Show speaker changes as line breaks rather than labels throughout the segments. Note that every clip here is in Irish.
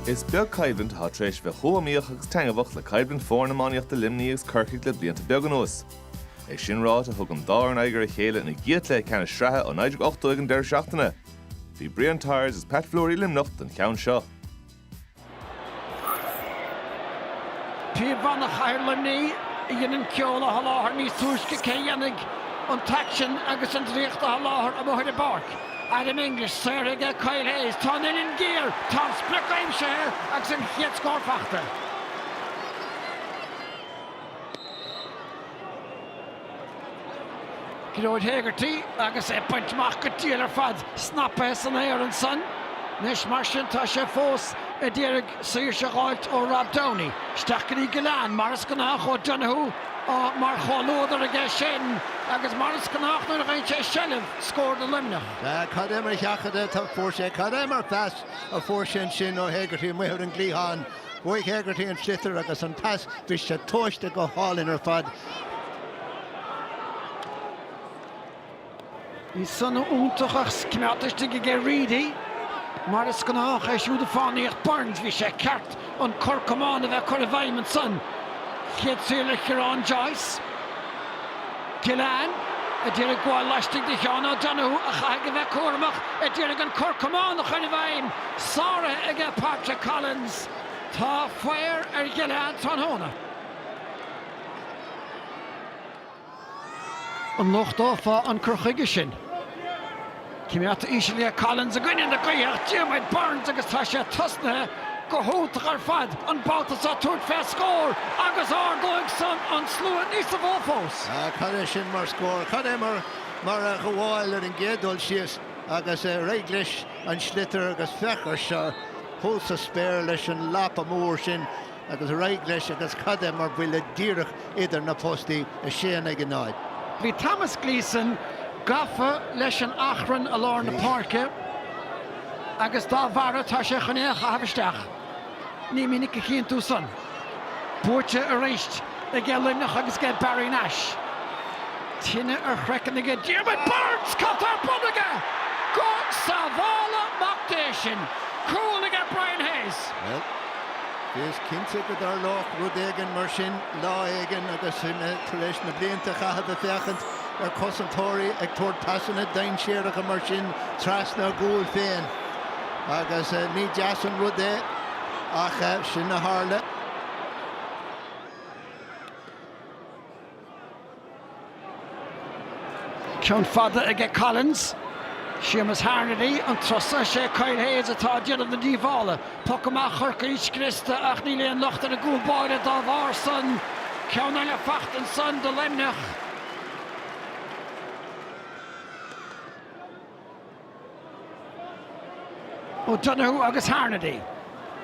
Is beag coimhlint atá tar éis bheith chomh iomaíoch agus taitneamhach le coimhlint foirne iománaíochta Luimní agus Corcaigh le blianta beag anuas. É sin ráite thug an dá fhoireann aghaidh ar a chéile ina gcéad chluiche ceannais sraithe ó 1980 ag an deireadh seachtaine. Bhí Brian Tyers agus Pat Fleury i Luimneach don cheann seo.
Píobbhanna Chathair Luimnigh a dhein an ceol a sholáthar níos túisce, cé a dhéanfaidh an t-aicsean agus an draíocht a sholáthar amuigh ar an bpáirc? Adam English, saor aige Kyle Hayes, tá an uillinn géar, tá an sprioc aimsithe agus an chéad scór fachta. Gearóid Hegarty agus é bainte amach go diail ar fad, snapaithe san aer ansan. Anois mar sin tá sé fós a d'iarraidh saoirse a dh'fháilt ó Rob Downey. Isteach go dtí Gillane mar is gnách, O'Donoghue mar chomhluadar aige sin agus mar is gnách nuair a fhaigheann sé seilbh scór do Luimneach. Sea, cad é mar sheachadadh
a fuair sé, cad é mar phas a fuair sé ansin ó Hegarty amuigh ar an gcliathán. Bhuaigh Hegarty an sliotar agus an pas, bhí sé tomhaiste go hálainn ar
fad. Bhí san iontach agus cimeádta istigh aige Reidy. Mar is gnách, é siúd ag fánaíocht, Byrnes, bhí sé ceart an cor camáin a bheith curtha i bhfeidhm ansan. Chéad saor le Ciarán Joyce. Gillane, a d'iarraidh gabháil laistigh de Sheán O'Donoghue a chaithfidh a bheith cúramach a d'iarraidh an cor camáin a chur i bhfeidhm, sáraithe aige Patrick Collins. Tá faor ar Ghillane tráthnóna. An lochtófá an cur chuige sin? Cimeádta íseal ag Collins i gcoinne na gaoithe Diarmaid Byrnes agus tá sé tosnaithe go hiontach ar fad an babhta seo tabhairt fé scór agus ardóidh san an slua níosa mhó fós. Cad é sin
mar scór? Cad é mar mar a ghabháil ar an gcéad dul síos agus ar aghaidh leis an sliotar agus féach air seo thuas sa spéir leis an lapa mór sin agus ar aghaidh leis agus cad é mar bhuille díreach idir na postaí a sé in aghaidh a náid. Bhí
Thomas Gleeson gafa leis an achrann i lár na páirce agus dá bharra tá sé chun é a chaitheamh isteach. Ní minic a chíonn tú san. Buaite arís aige Luimneach agus aige Barry Nash. Tine ar chraiceann aige Diarmaid Byrnes! Cad tá ar bun aige? Go sábhála Mac Dé sinn! Cúl aige Brian Hayes.
Is cinnte go dtarlódh rud éigin mar sin lá éigin agus sinn tar éis na blianta a chaitheamh ag féachaint ar chosantóirí ag tabhairt pasanna dainséaracha mar sin trasna a gcúil féin agus ní deas an rud é ach sin a tharla.
Ceann fada aige Collins. Séamus Harnedy, an trua san, 'sé Kyle Hayes atá ag déanamh na díobhála. Poc amach Chorcaí scriosta ach níl aon locht ar an gcúl báire dá bharr san. Ceann eile faighte ansan do Luimneach. O'Donoghue agus Harnedy.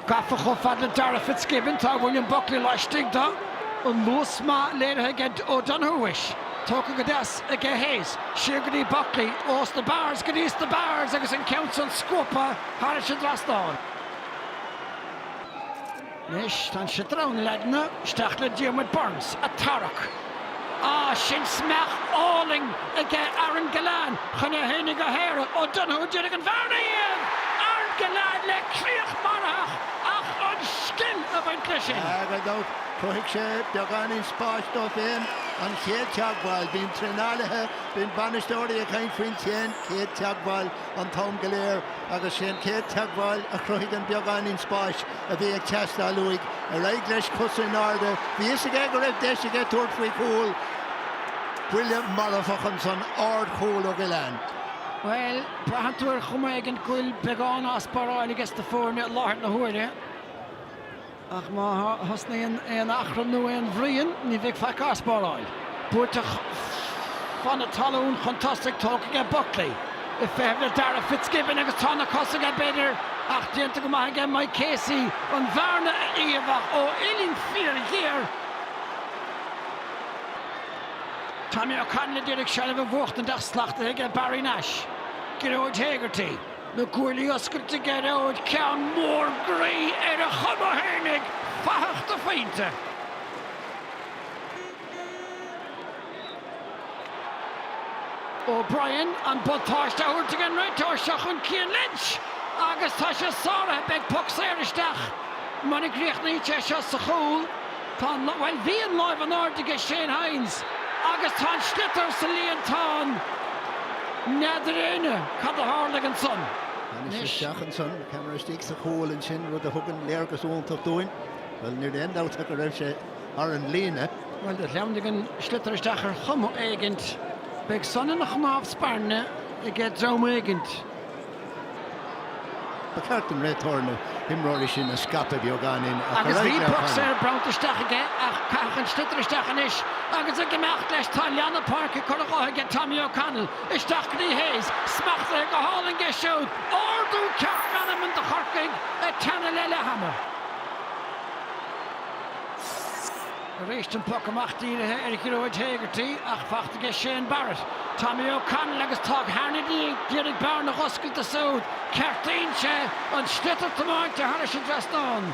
Gafa chomh fada le Darragh Fitzgibbon, tá William Buckley laistigh de. An luas maith léirithe ag O'Donoghue is tógtha go deas ag Hayes. Siar go dtí Buckley, os na barraí, go dtí os na barraí agus an ceann san scuabtha thar an dtrasnán. Anois tá an soláthar ann, leagtha isteach le Diarmuid Byrnes, a' tarrac. Á, sin smeach álainn aige Aaron Gillane chun é héinig a shaoradh, O'Donoghue d'iarraidh an bhearna a iamh! Aaron Gillane le críoch mharfach ach an scil a bhain leis sin agus
chruthaigh sé beagáinín spáis dó féin an chéad teagmháil, bíonn traenálaithe, bíonn bainisteoirí ag caint faoin chéad teagmháil, an t-am go léir agus 'sé an chéad teagmháil a chruthaigh an beagáinín spáis a bhí ag teastáil uaidh. Ar aghaidh leis, cosa in airde, bhí fhios aige go raibh deis aige tabhairt faoi chúl. Buille marfach ansan, ard chúl ó Gillane.
Bhuel, braitheann tú ar chuma éigin go bhfuil beagán á sparáil aiges na foirne i láthair na huaire. Ach má thosnaíonn aon achrann nó aon bhruíon, ní bheidh faic á sparáil. Buailte fan na talún chun tosaigh, tógtha aige Buckley. Ag feitheamh le Darragh Fitzgibbon agus tá na cosa aige, b'fhéidir, ach déanta go maith aige Mike Casey an bhearna a iamh ach ó uillinn fíorghéar, Tommy O'Connell a d'iarraidh seilbh a bhuachtaint ach slachtaithe aige Barry Nash, Gearóid Hegarty. Na cuaillí oscailte ag Gearóid, ceann mór groí ar a chuma féinig, fathach de phointe. O'Brien an buntáiste a thabhairt ag an réiteoir seo chun Cian Lynch agus tá sé sáraithe. Beidh poc saor isteach mura gcríochnaíonn sé seo sa chúl. Tá an, bhuel, bhí an lámh in airde ag Shane Hynes agus tá an sliotar sa líontán n'fheadar éinne. Cad a tharla ansan? Anois isteach
ansan, ceamara istigh sa chúl ansin, rud a thugann léargas iontach dúinn. Bhuel, níl aon dabht ach go raibh sé thar an líne. Bhuel, do shleamhnaigh
an sliotar isteach ar chuma éigint. Beidh san ina chnámh spairne aige dream éigint.
Ba cheart don réiteoir na himreoirí sin a scaipeadh beagáinín agus bhí poc
saor bronnta isteach aige ach caitheadh an sliotar isteach anois agus ag imeacht leis. Tá leath na páirce curtha dhe aige Tommy O'Connell. Isteach go dtí Hayes. Smachtaithe go hálainn aige siúd. Ardú ceart meanman do Chorcaigh ag teannadh le leath ama. Arís an poc amach dírithe ar Ghearóid Hegarty ach fachta aige Shane Barrett, Tommy O'Connell agus tá ag Harnedy, d'éirigh bearna á hoscailt ansúd, ceartaíonn sé, an sliotar tiomáinte thairis an dtrasnán.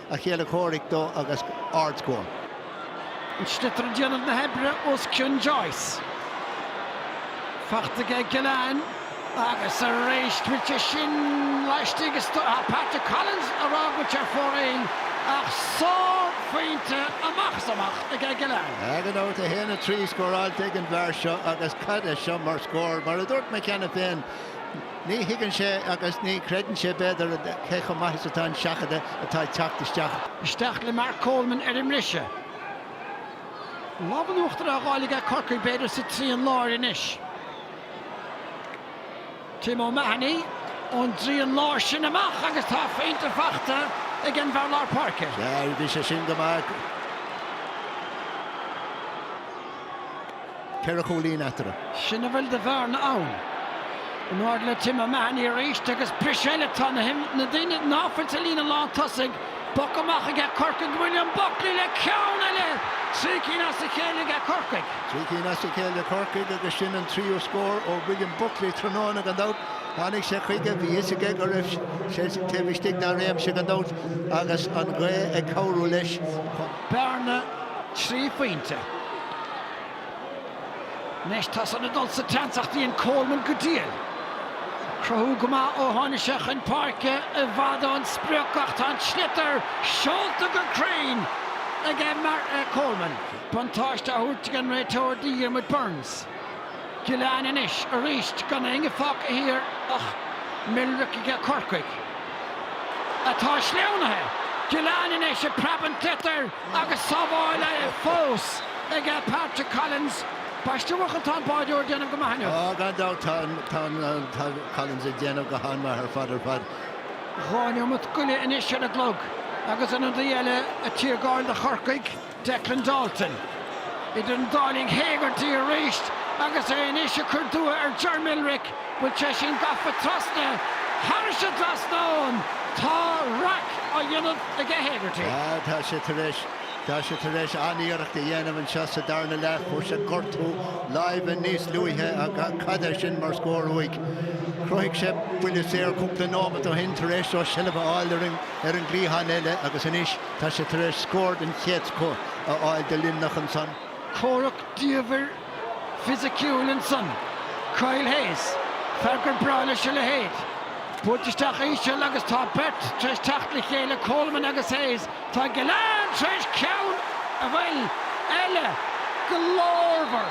a chéile comhraic dó agus ardscór.
An sliotar ag déanamh na hoibre os cionn Joyce. Fachta aige Gillane agus arís bhíte sin laistigh is Patrick Collins ag rá go raibh ar fóraoil ach sárphointe amach is amach aige Gillane. Gan dabht a haon a
trí scóráilte ag an bhfear seo agus cad é seo mar scór! Mar a dúirt mé cheana féin, Ní thuigeann sé agus ní chreideann sé, b'fhéidir, cé chomh maith is atá an seachadadh atá ag teacht isteach. Isteach le
Mark Coleman ar an mbriseadh. Lámh in uachtar á fháil ag Corcaigh, b'fhéidir, sa trian láir anois. Tim O'Mahony ón dtrian láir sin amach agus tá pointe fachta ag an bhfear lár páirce. Sea, bhí sé sin go
maith. ceithre chúilín eatarthu. Sin a bhfuil de
bhearna ann. In airde le Tim O'Mahony arís agus briseadh eile. Tá na daoine ná fuil sa líne lántosaigh. Poc amach aige Corcaigh, William Buckley le ceann eile! Trí cinn as a chéile aige Corcaigh. Trí cinn as a
chéile ag Corcaigh agus sin an tríú scór ó William Buckley tráthnóna gan dabht. Tháinig sé chuige, bhí fhios aige go raibh sé taobh istigh dá réimse gan dabht agus an ghaoth ag cabhrú leis. Bearna
trí phointe. Anois tá san ag dul sa tseans ach déanann Coleman go diail. Ag cruthú go maith ó tháinig sé chun páirce i bhfad ón sprioc ach tá an sliotar seolta go cruinn aige Coleman. Buntáiste á thabhairt ag an réiteoir do Dhiarmuid Byrnes. Gillane anois arís gan éinne fágtha thiar ach Millerick aige Corcaigh. Atá sleamhnaithe! Gillane anois ag preabadh an tsliotair! agus sábháilte fós aige Patrick Collins, ambaiste a Chathail, tá an báireoir ag déanamh go maith inniu. Ó, gan dabht, tá an,
tá an, tá Collins ag déanamh go han-mhaith ar fad, ar fad.
Dhá neomat go leith anois ar an gclog agus ionadaí eile ag tiargáil do Chorcaigh, Declan Dalton. Idir an dá linn Hegarty arís agus é anois ag cur dua ar Ger Millerick bhfuil sé sin gafa trasna, thairis an dtrasnán, tá raic á dhéanamh aige Hegarty. Tá sé tar éis,
tá sé tar éis an-iarracht a dhéanamh anseo sa darna leath, fuair sé gortú láimhe níos luaithe ach cad é sin mar scór uaidh. Chruthaigh sé buille saor cúpla nóimeat ó shin tar éis dó seilbh a fháil ar an gcliathán eile agus anois tá sé tar éis scór den chéad scoth a fháil do Luimneach ansan. Comhrac
diamhair fisiciúil ansan. Kyle Hayes, fear gur breá leis a leithéid. Buailte isteach íseal agus tá beirt tar éis teacht le chéile, Coleman agus Hayes. Tá Gillane tar éis ceann amháin eile glórmhar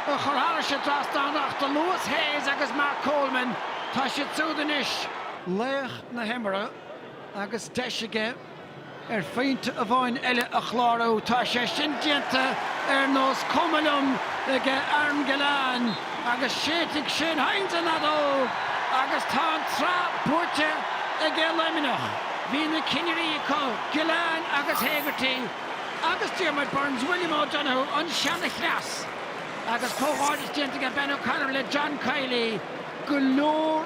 a chur thairis an dtrasnán ach do luas Hayes agus Mark Coleman, tá siad súd anois. Laoch na himeartha agus deis aige. Ar phointe amháin eile a chlárú, tá sé sin déanta ar nós cuma liom ag Aaron Gillane agus séidfidh Shane Hynes an fheadóg agus tá an tsraith buaite aige Luimneach. Bhí na cinnirí acu, Gillane agus Hegarty agus Diarmuid Byrnes William O'Donoghue an seanchleas agus comhghairdeas déanta aige Ben O'Connor le John Kiely go leor